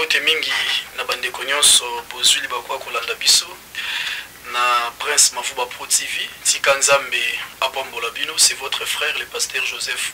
mbote mingi na bandeko nyonso bozwi libaku ya kolanda biso na prince mavuba pro tv tika nzambe apambola bino c'est votre frère le pasteur joseph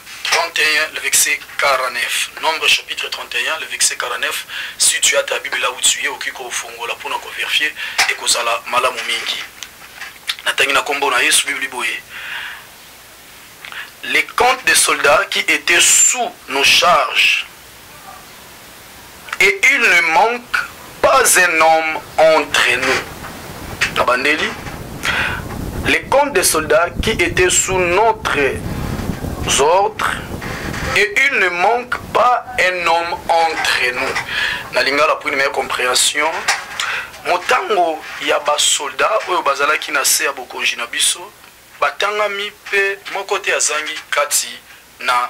31, le verset 49. Nombre chapitre 31, le verset 49. Si tu as ta Bible là où tu es, okoki kofongola mpona koverifier ekozala malamu mingi. Natangi na kombo na Yesu Bible boye. Les comptes des soldats qui étaient sous nos charges et il ne manque pas un homme entre nous nabandeli les comptes des soldats qui étaient sous notre ordre et il ne manque pas un homme entre nous na lingala pour une meilleure compréhension motango ya basoda oyo bazalaki na se ya bokonzi na biso batangami mpe moko te azangi kati na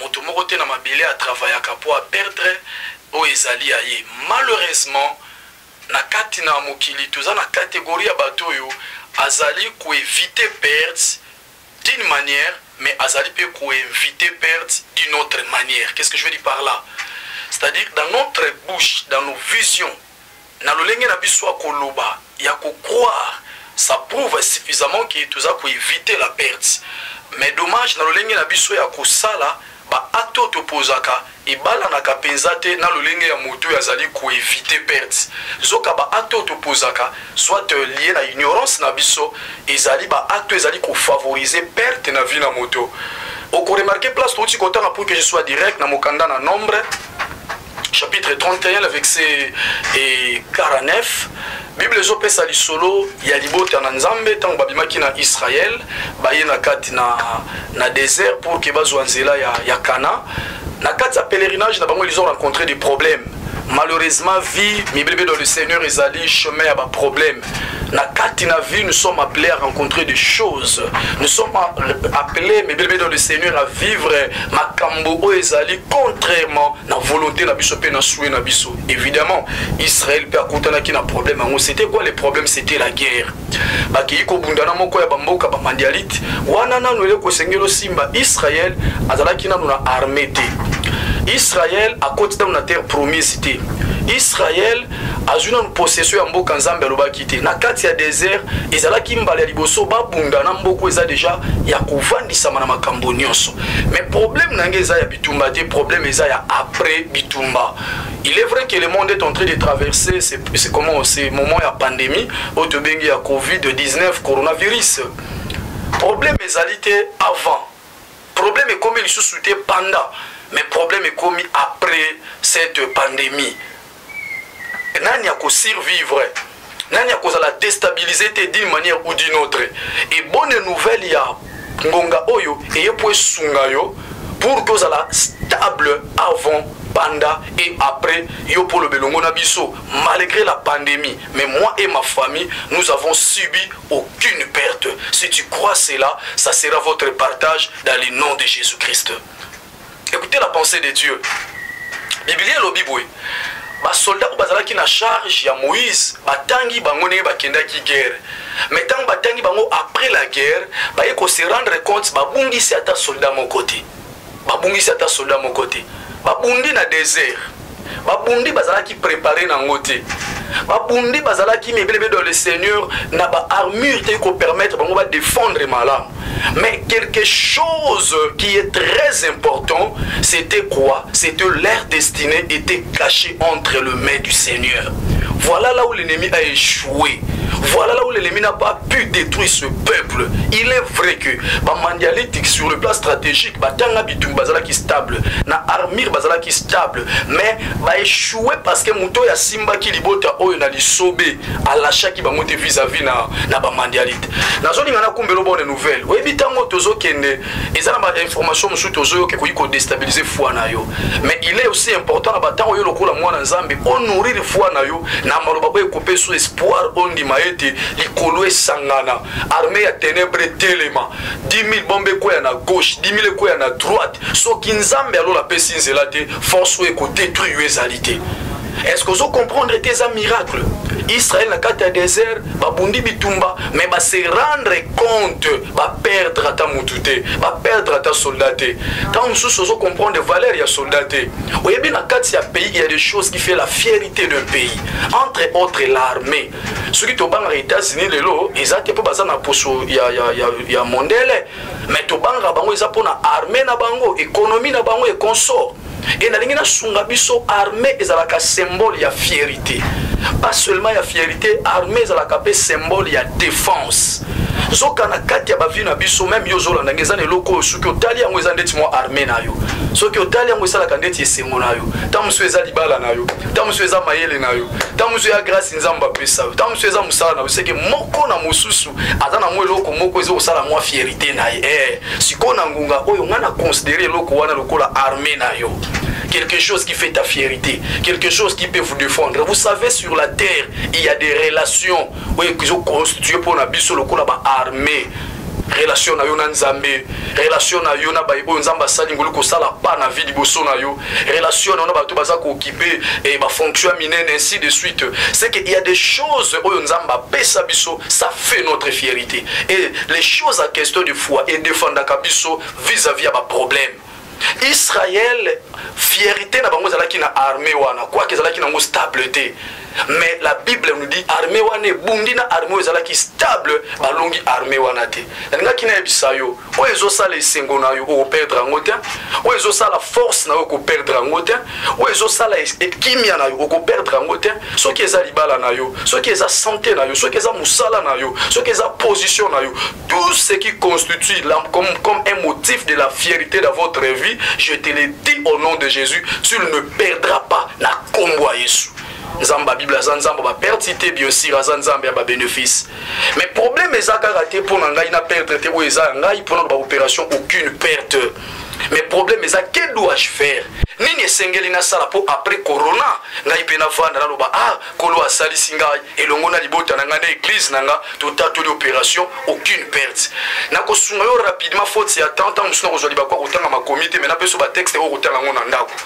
Moto moko te na mabele a travaillaka po a perdre oyo ezali ya ye. Malheureusement, na kati na mokili toza na categorie ya bato oyo azali ko eviter perte d'une manière mais azali pe ko inviter perte d'une autre manière. Qu'est-ce que je veux dire par là? C'est-à-dire dans notre bouche, dans nos visions, na lolenge na biso ya koloba ya ko croire ça prouve suffisamment que toza ko eviter la perte mais dommage na lolenge na biso ya kosala ba acte oyo topozaka ebalanaka mpenza te na lolenge ya moto oyo azali koevite perte nzoka baacte oyo topozaka soit euh, lie na ignorance na biso ezali baacte oyo ezali kofavorize perte na vie na moto okoremarke place touti kotanga pour que je soit direct na mokanda na nombre chapitre 31 na verse e 49 bible ezopesa lisolo ya libota na nzambe ntango babimaki na israele baye na kati na, na désert pour ke bazwa nzela ya, ya kana na kati ya pèlerinage na bango ils ont rencontré des problèmes malheureusement vie mibelebelo le seigneur ezali chemin ya baproblème na kati na vie nous sommes appelés à rencontrer des choses nous sommes appelés mais bien dans le seigneur à vivre makambo oyo ezali contrairement na volonté na biso mpe na souhait na biso évidemment israël mpe akutanaki na problème yango c'était quoi le problème c'était la guerre bakei kobunda na moko ya bamboka bamandialite wana nano eleki kosengeli osimba israël azalaki nano na armée te israël akoti nano na terre promise te israël azwi nanu possession ya mboka nzambe alobaki te na kati ya desert ezalaki mbala ya liboso babunda na mboka eza deja ya kovandisama na makambo nyonso mais problème na ngai eza ya bitumba te problème eza ya après bitumba il est vrai que le monde est en train de traverser c'est comment ce moment ya pandémie oyo tobengi ya covid-19 coronavirus problème ezali te avant problème ekomi lisusu te pendant mais problème ekomi après cette pandémie nani ako survivre nani akozala destabilise te d'une manière ou d'une autre et bonne nouvelle ya ngonga oyo eye mpo esunga yo pour que ozala stable avant panda et après yo mpo oloba elongo na biso malgré la pandémie mais moi et ma famille nous avons subi aucune perte si tu crois cela ça sera votre partage dans le nom de jésus christ Écoutez la pensée de Dieu. Biblia elobi boye basoldat oyo bazalaki na charge ya moïse batangi bango ndenge bakendaki guerre me ntango batangi bango après la guerre baye kose rendre compte babungisi ata soldat moko te babungisi ata soldat moko te babundi na désert babundi bazalaki prépare na yango te babundi bazalaki mibelebe dans le seigneur na baarmure te kopermettre bango badefendre malamu mais quelque chose qui est très important c'était quoi c'était leur destinée était cachée entre le main du seigneur voilà là où l'ennemi a échoué voilà là où l'ennemi n'a pas tu détruis ce peuple il est vrai que bamandialitique sur le plan stratégique batanga bitumbi bazalaki stable na armure bazalaki stable mais baéchoué parce que moto oyo asimbaki libota oyo na lisobe alashaki bango te vis-à-vis na, na bamandialite nazolinga nakumbela obone nouvelle oyebi ntango tozokende eza na bainformation mosusu te ozoyoka ekoki kodestabilize foi na yo mais il est aussi important na bantango yo lokola mwana nzambe onourrir foi na yo na maloba oyo ekopesu espoir ondima ete likolo esangana armée ya ténèbre etelema 10000 bombe ekweya na gauche 10000 ekweya na droite soki nzambe alola apesi nzela te force oyo ekodetruire yo ezali te est ce que ozo comprendre ete eza miracle israel na kati ya désert babundi bitumba mais base rendre compte baperdre ata mutu te baperdre ata soldat te ntango mosusu ozo comprendre valeur ya soldat te oyebi na kati ya pays ya des choses qui fait la fierité d'un pays entre autres l'armée soki tobangaka états-unis lelo eza te mpo baza na poso ya, ya, ya, ya mondele mais tobangaka bango eza mpo na armée na bango économie na bango et consort et nalingi nasunga biso armée ezalaka symbole ya fierité pas seulement ya fierité armée ezalaka mpe symbole ya défense nzoka na kati ya bavi na biso meme yo ozolanda nge eza na eloko oyo soki otali yango eza ndeti mwa armée na yo soki otali yango esalaka ndeti esengo na yo ntango mosusu eza libala na yo ntango mosusu eza mayele na yo ntango mosusu ya grâce nzambe apesa yo ntango mosusu eza mosala na yo seke moko na mosusu aza na mwa eloko moko eza kosala mwa fierité na ye eh. sikoyo na ngonga oyo ngai na considere eloko wana lokola armée na yo quelque chose qui fait ta fierté quelque chose qui peut vous défendre vous savez sur la terre il y a des relations oyo ezoconstitue mpo na biso lokola baarmée relation na yo na nzambe relation na yo na baye oyo nzambe asali ngoli kosala pa na vie liboso na yo relation na bato baza kookipe eh, bafonction ya minene ainsi de suite c'est que il y a des choses oyo nzambe apesa biso ça fait notre fierité et les choses à question de foi edefendaka biso vis-à-vis ya baproblème israel fierité na bango ezalaki na armée wana quoique ezalaki nango stable te mais la bible nous dit armée wana ebundi na armée oyo ezalaki stable balongi armée wana te nalingaki nayebisa yo oyo ezosala esengo na yo okoperdre yango te oyo ezosala force na yo okoperdre yango te oyo ezosala kimia na yo okoperdre yango te soki eza libala na yo soki eza sante na yo soki eza mosala na yo soki eza position na yo tout ce qui constitue la, comme, comme un motif de la fierté de votre vie je te le dis au nom de jésus tu ne perdras pas na kombo ya yesu nzambe ya bible aza nzambe ba perte te bien sûr aza nzambe ya ba bénéfice mais problème eza kaka te mpo na ngai na perdre te oyo eza ya ngai mpo na ba opération aucune perte mais problème eza que dois-je faire nini esengeli nasala mpo après corona ngai mpe navanda naloba ah kolo asalisi ngai elongo na libota na ngai na église na ngai totatoli opération aucune perte nakosunga yo rapidement faute ya temps ntango mosusu nakozwa libaku ya kotanga makomi te mai napeso batexte oyo kotanga yango na ndako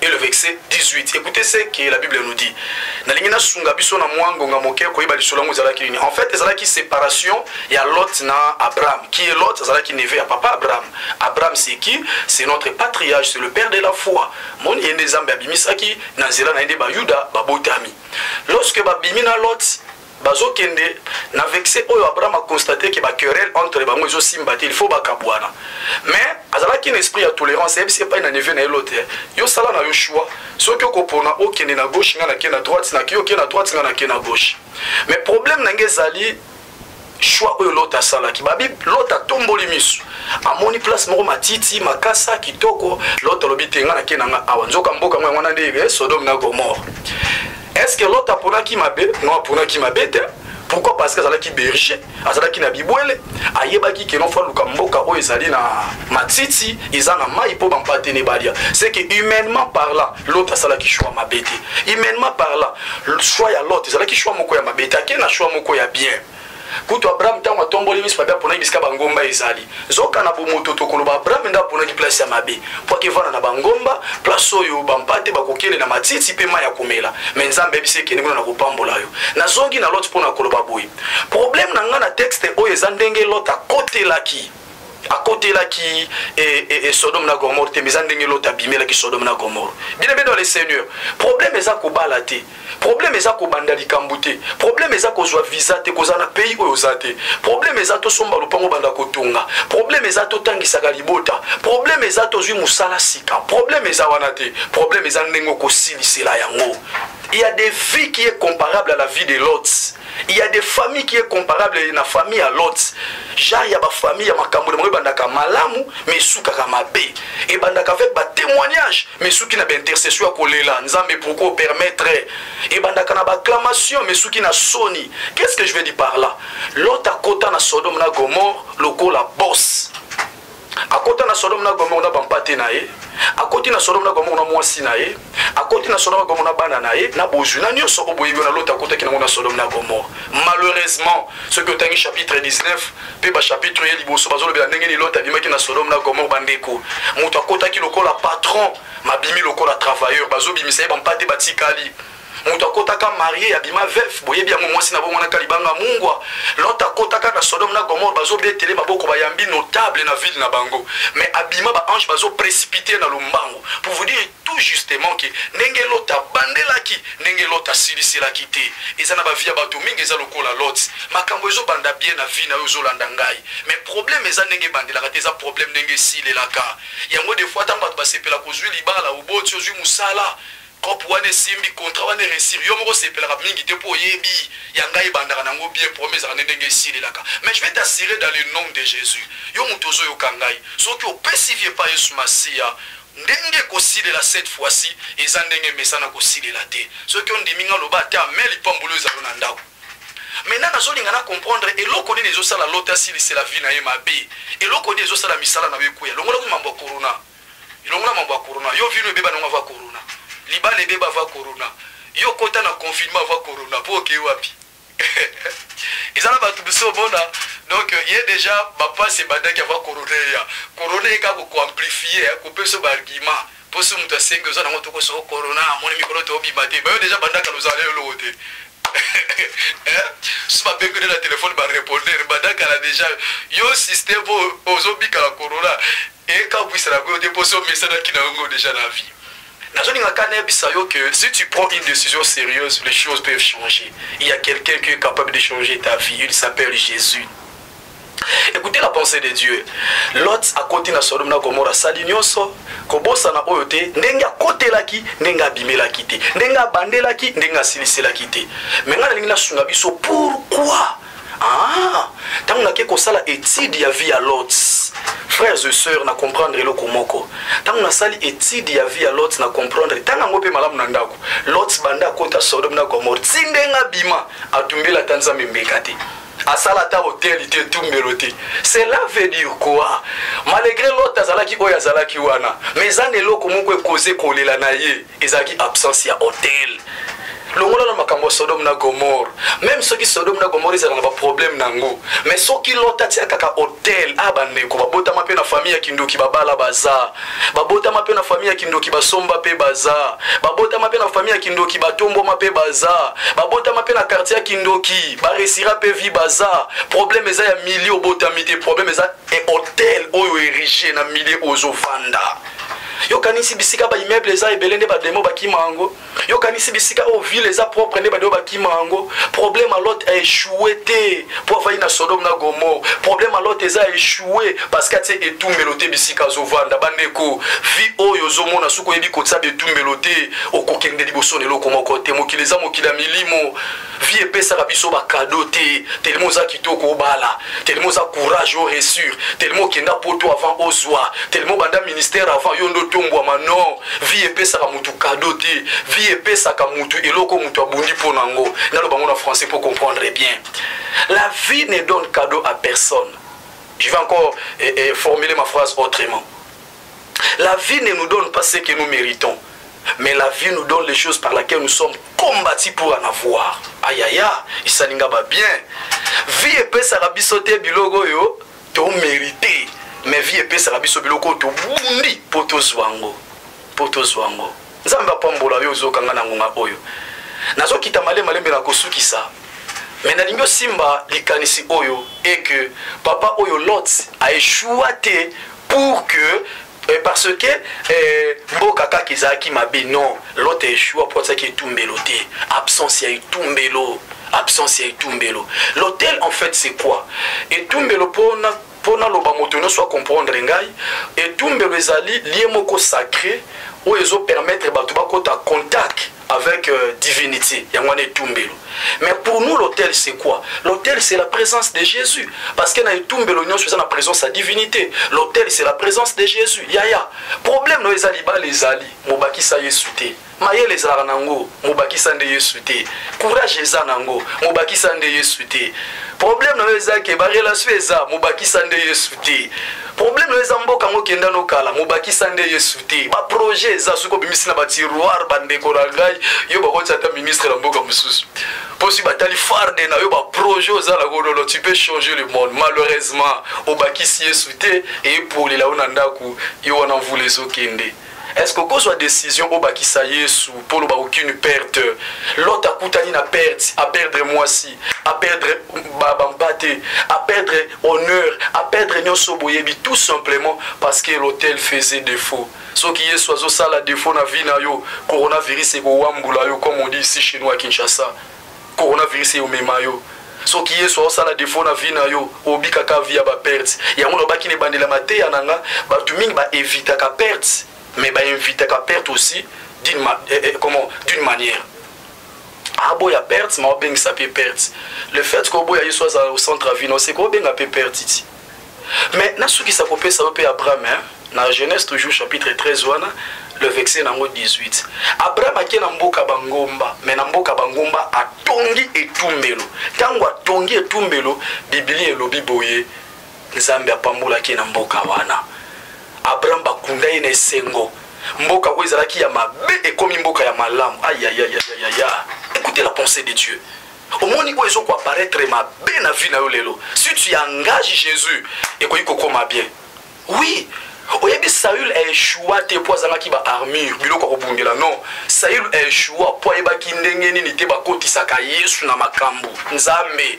et le verset 18. Écoutez ce que la Bible nous dit. nalingi nasunga biso na mwa ngonga moke koyeba lisolo yango ezalaki nini en fait ezalaki séparation ya lot na abraham qui est lot azalaki neve ya papa abraham abraham c'est qui c'est notre patriage c'est le père de la foi moni ye nde nzambe abimisaki na nzela na ye nde bayuda babotami lorsque babimi na lot bazo kende na vexe oyo abraham a constate ke ba querelle entre bango ezo simba te il faut bakabuana mais azalaki na esprit ya tolérance ayebisi epai na neveu na ye lote yo sala na yo choix soki okopona okende na gauche ngai nake na droite nake yo okende na droite ngai nake na gauche mais problème na ngai ezali choix oyo lote asalaki babi lote atomboli miso amoni place moko matiti makasa kitoko lote alobi te ngai nake na ngai awa nzoka mboka yango wana nde eh, sodome na gomore est ce que lot aponaki mabe non aponaki mabe te pourquoi parce que azalaki berger azalaki na bibwele ayebaki ke nofa luka mboka oyo ezali na matiti eza na mai mpo bampate ne balia c'est que humainement parla lot asalaki choix mabe te humainement parla choix ya lot ezalaki choix moko ya mabe te ake na choix moko ya bien kutu abraham ntango atomboli miso mabe aponaki bisika bangomba ezali nzoka na bomoto tokoloba abraham nde aponaki place ya mabe mpo akevana na bangomba place oyo bampate bakokende na matiti mpe mai ya komela me nzambe ayebisi ekende kuna na kopambola yo nazongi na lot mpo na koloba boye probleme na ngai na texte oyo eza ndenge lot akotelaki akotelaki e, eh, e, eh, e, eh, sodome na gomore te mais eza ndenge lota abimelaki sodome na gomore bino mpe dans le seigneur problème eza kobala te problème eza kobanda likambo te problème eza kozwa visa te kozala na pays oyo oza te problème eza tosomba lopango banda kotonga problème eza totangisaka libota problème eza tozwi mosala sika problème eza wana te problème eza ndenge okosilisela yango il y a des vies qui est comparable à la vie de lots il y a des familles qui est comparable na famille ya lot genre ya bafamille ya makambo na bango ebandaka malamu ma esukaka mabe ebandaka avec batémoignage ma esuki na baintercession ya kolela nzambe pourkoi opermettre ebandaka na bacclamation ma esuki na soni qu'est ce que je veux dire par là lot akota na sodome na gomore lokola bosse akota na sodome na gomore na bampate na ye akoti na sodome na gomore na mwasi na ye akoti na sodome na gomore na bana na ye na bozwi na nyonso oyo boyebi wana lota akotaki nango na sodome na gomore malheureusement soki otangi chapitre 19 mpe bachapitre ye liboso bazolobela ndenge nini lota abimaki na sodome na gomore bandeko moto akotaki lokola patron mabimi lokola travailleur bazobimisa ye bampate batikali moto akotaka marie abima veuve boyebi yango mwasi na bongo na kalibanga mungwa lot akotaka na sodome na gomore bazobetele maboko bayambi notable na ville na bango mais abima baange bazoprécipite na lombango pour vous dire tout justement ke ndenge lot abandelaki ndenge lot asiliselaki te eza na bavie ya bato mingi eza lokola lot makambo ezobanda bien na vie na yo ozolanda ngai mais problème eza ndenge ebandelaka te eza problème ndenge esilelaka yango defoi ntango bato basepela kozwi libala oboti ozwi mosala Coop wana esimbi, contrat wana e reussir, yo moko osepelaka mingi te mpo oyebi ya ngai ebandaka na yango bien, problème ezalaka nde ndenge esilelaka. Mais je vais t'assurer dans le nom de Jesus, yo moto ozo yoka ngai, soki opesi vie epai Yesu Masiya, ndenge ekosilela cette fois ci eza ndenge emesana kosilela te. Soki ondimi ngai, loba ata amen, lipamboli oyo ezala yo na ndako. Maintenant nazolinga na comprendre eloko nini ezosala Lot asilisela vie na ye mabe, eloko nini ezosala misala na yo ekweya, longola mambo ya corona. longola mambo ya corona yo vino ebeba nango ava corona libala ebeba ava corona yo kota na confinement ava corona po okei wapi eza na bato biso omona donc ye deja bapasi ebandaki ava corona eya corona eka kokoamplifie eh, kopeso baargument mpo so moto asengi oza nango tokoso corona amoni mikolo toobima te bayo deja bandaka lozala yo eloko te Eh, si babengi nde na telefone barepondere banda kala deja yo systeme oyo ozobika na corona ekabwisa na koyo te mpo so omesanaki na yango deja na vie nazolingaka nayebisa yo que si tu prends une décision sérieuse les choses peuvent changer il y a quelqu'un qui est capable de changer ta vie il s'appelle jésus écoutez la pensée de dieu lot akoti na sodome na gomora asali nyonso kobosana oyo te ndenge akotelaki ndenge abimelaki te ndenge abandelaki ndenge asiliselaki te me ngai nalingi nasunga biso pourkui ah, ntango nake kosala étude ya vie ya lot frères et sœurs na comprendre eloko moko ntango nasali étude ya vie ya lot na comprendre ntango yango mpe malamu na ndako lot banda akota sodome na gomore ti ndenge abima atumbela ata nzambe mbeka te asala ata hoteli te etumbelo te cela veut dire quoi malgré lot azalaki oyo azalaki wana mais eza na eloko moko ekoze kolela na ye ezalaki absence ya hotel longola na makambo ya sodome na gomore meme soki sodome na gomore ezala na baproblème na yango mais soki lot atia kaka hotel a ah, bandeko babotama mpe na famille ya kindoki babala baza babotama mpe na fami ya kindoki basomba mpe baza babotama mpe na fami ya kindoki batombwama mpe baza babotama mpe na kartier ya kindoki baresira mpe vi baza probleme eza ya milie obotami te probleme eza e hotel oyo erige na milie ozovanda yokanisi bisika baimmeuble eza ebele nde bademo bakima yango yo kanisi bisika oyo ville eza propre nde bato oyo bakima yango problème ya lot aechoue te mpo afandi na sodome na gomore problème ya lot eza aechoue parce que atie etumbelo te bisika azovanda bandeko vie oyo ozomona soki oyebi kotisa betumbelo te okokende liboso na eloko moko te mokili eza mokili ya milimo vie epesaka biso bakado te telema oza kitoko obala telema oza courage o resure telema okenda poto avant ozwa telema obanda ministère avant yo nde otombwama non vie epesaka motu kado te vie epesaka motu eloko motu abundi mpo na yango naloba yango na français mpo comprendre bien la vie ne donne cadeau à personne je vais encore eh, eh, formuler ma phrase autrement La vie ne nous donne pas ce que nous méritons. Mais la vie nous donne les choses par lesquelles nous sommes combattus pour en avoir. Ayaya, isalinga ba bien. Vie epesaka biso te biloko oyo to mérité. Mais vie epesaka biso biloko to bundi poto zwango. Poto zwango. nzambe apambola yo ozokanga na ngonga oyo nazokita male malembe na kosukisa me nalingi osimba likanisi oyo eke papa oyo lot aeshua te pour que eh, parce que eh, mboka kaka ezalaki mabe non lot aeshua mpo azalaki etumbelo te absence ya etumbelo absence ya etumbelo l'hôtel en fait c'est quoi etumbelo mpona Mpo naloba moto nyonso a comprendre ngai, etumbelo ezali lieu moko sacre oyo ezo permettre bato bakota contact avec euh, divinité yango wana etumbelo mais pour nous l'hôtel c'est quoi l'hôtel c'est la présence de jésus parce que na etumbelo nyonso eza na présence ya divinité l'hôtel c'est la présence de jésus yaya problème na yo eza libala ezali mobakisa yesu te mayele ezalaka na yango mobakisa nde yesu te courage eza na yango mobakisa nde yesu te problème na yo eza ke barelation eza mobakisa nde yesu te problème na yo eza mboka yango okenda no kala mobakisa nde yesu te baprojet eza soki obimisi na batiroire bandeko na ngai yo bakotisa ata ministre na mboka mosusu mpo soki batali farde na yo baprojet oza na kololo tu peux changer le monde malheureusement obakisi yesu te eyepolela yo na ndako yo wana mvula ezokende Est-ce que okozwa decision obakisa Yesu mpo oloba aucune perte? Lot akutani na perte, a perdre mwasi, a perdre bampate, a perdre honneur, a perdre nyonso boyebi tout simplement parce que l'hôtel faisait défaut. Soki Yesu azosala défaut na vie na yo, coronavirus ekowambula yo comme on dit ici chez nous à Kinshasa. Coronavirus eyo mema yo soki yesu aosala defo na vie na yo obikaka vie ya baperte yango nalobaki na ebandela mateya na nga bato mingi baevitaka perte mais bainvitaka perte aussi d'une ma, eh, eh, comment d'une manière aboya perte ma obengisa mpe perte le fait que oboya yesu azala au centre ya vie na oseka obenga mpe perte ti mais nasukisa kopesa yo mpe abraham hein? na genèse toujours chapitre 13 wana le vexe nango 18 abraham ake na mboka bangomba me na mboka bangomba atongi etumbelo ntango atongi etumbelo biblia elobi boye nzambe apambolaki na mboka wana abraham bakunda ye na esengo mboka oyo ezalaki ya mabe ekomi mboka ya malamu ayayayayaya écoutez la pensée de dieu omoni oyo ezo koapparaître mabe na vie na yo lelo si tu engage jésus ekoki kokoma bien oui oyebi saül aeshua te mpo azangaki baarmure biloko ya kobundela non saül aeshua mpo ayebaki ndenge nini te bakotisaka yesu na makambo nzambe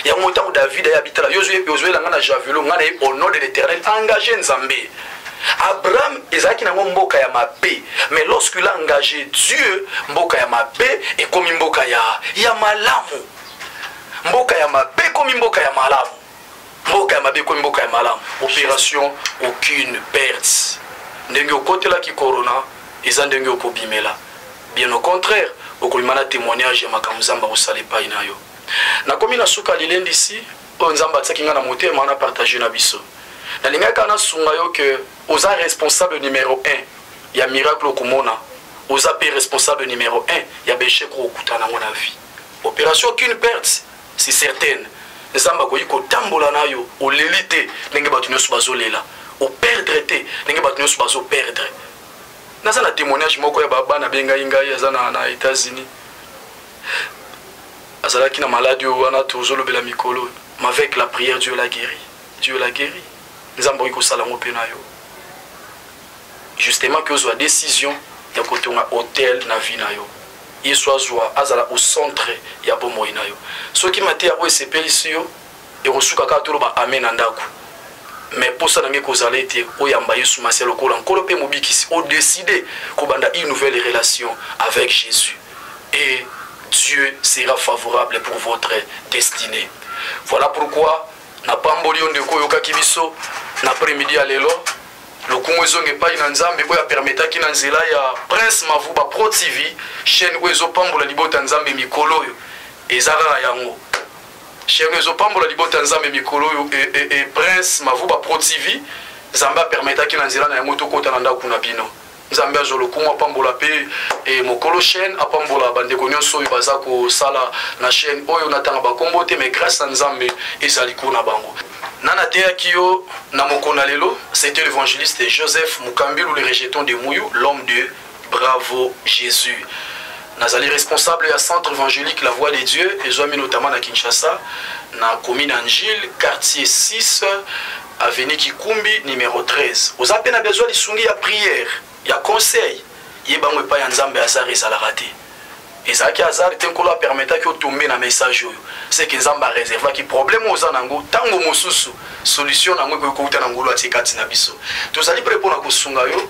yango ntango david aye abitala yo ozoyela ngai na javelo ngai na ye au nom de l'éternel engage nzambe Abraham ezalaki nango mboka ya mabe mais lorsqu'il a engagé Dieu mboka ya mabe ekomi mboka ya ya malamu mboka ya mabe ekomi mboka ya malamu mboka ya mabe ekomi mboka ya malamu opération aucune perte ndenge okotelaki corona eza ndenge okobimela bien au contraire okolima na témoignage ya makambo nzambe akosala epai na yo nakomi na suka lilendisi oyo nzambe atisaki ngai na motema na partage na biso nalingaki kaka nasunga yo ke oza responsable numero 1 ya miracle okomona oza mpe responsable numero 1 ya bechec okokuta nango na vie opération aucune perte c'est certaine nzambe akoki kotambola na yo oleli te ndenge bato nyonso bazolela operdre te ndenge bato nyonso bazoperdre naza na témoignage moko ya babana bengai ngai aza na, na états-unis azalaki na maladi oyo wana tozolobela mikolo avec la prière dieu la guéri dieu la guéri nzambe okoki kosala yango mpe na yo justement ke ozwa décision ya kotonga hotel na vie na yo yesu azwa azala au centre ya bomoi na yo soki mateya oyo esepelisi yo ekosuka kaka toloba ame na ndako me mposa na ngai ekozala ete oyamba yesu masiya lokola nkolo mpe mobikisi odeside kobanda une nouvelle relation avec jésus et dieu sera favorable pour votre destinée voilà pourquoi napamboli yo ndeko oyokaki biso na après midi ya lelo lokumu ezonga epai na nzambe oyo apermetaki na nzela ya prince mavuba pro tv chaîne oyo ezopambola libota ya nzambe mikolo oyo eza kaka yango Chaine ezo pambola libota ya Nzambe mikolo oyo e, e, e, Prince Mavuba Pro TV Nzambe apermetaki na nzela na yango tokota na ndako na bino nzambe azwa lokumu apambola mpe e, mokolo chaîne apambola bandeko nyonso oyo baza kosala na chaîne oyo natanga bakombo te mais grâce na nzambe ezali ko na bango na nateyaki yo na mokona lelo c'était l'évangéliste joseph mukambilu le rejeton de muyu l'homme de Bravo Jesus. nazali responsable ya centre évangélique la voix de dieu ezwami notama na kinshasa na commune ya ngile quartier 6 avenue kikumbi numero 13 oza mpe na bezwa lisungi ya prière ya conseil ye bango epai ya nzambe azar ezalaka te ezalaki azar te nkolo apermetaki otombe na message oyo seke nzambe areservaki problème oza na yango ntango mosusu solution na yango ekoki kouta na ngolo atie kati na biso tozali mpe mpo na kosunga yo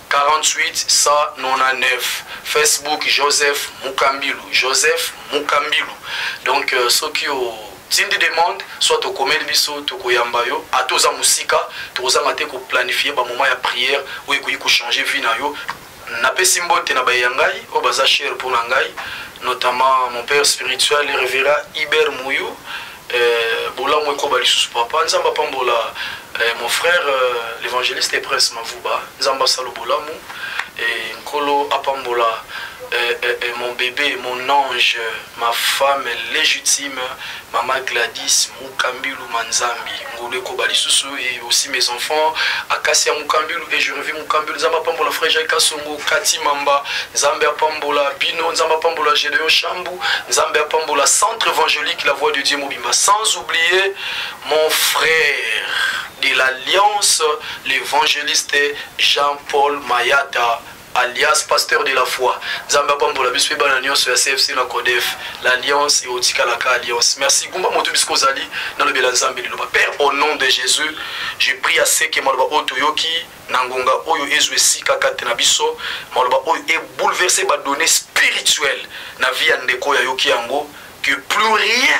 48199 facebook joseph mukambilu joseph mukambilu donc euh, soki o tindi demande soit tokomeli biso tokoyamba yo ata oza mosika tokozanga te koplanifie bamoma ya prière oyo ekoki kochange vie na yo napesi mbote na baye ya ngai oyo baza chere mpo na ngai notamment mon père spirituel revera iber mouyou Eh, bolamu ekoba lisusu papa nzambe apambola eh, mon frère euh, l'évangéliste et prince mavuba nzambe asalo bolamu eh, nkolo apambola eh, eh, eh, mon bébé mon ange ma femme légitime mama gladys mukambilu manzambi Ngolu ekoba lisusu et aussi mes enfants Akasia Mukambelu et je revis Mukambelu Nzambe apambola frère Jacques Kasongo Kati Mamba Nzambe apambola Bino Nzambe apambola Gedeon Shambu Nzambe apambola Centre évangélique La Voix de Dieu Mobimba sans oublier mon frère de l'Alliance l'évangéliste Jean-Paul Mayata alias pasteur de la foi nzambe apambola biso pe bana nyonso ya cfc na codef l'alliance eotikalaka alliance merci gumba moto bisika ozali nalobela nzambe liloba père au nom de jésus je prie à seke maloba oyo toyoki na ngonga oyo ezwa esika kati na biso maloba oyo ebouleverse badonne spirituelle na vie ya ndeko oyo ayoki yango que plus rien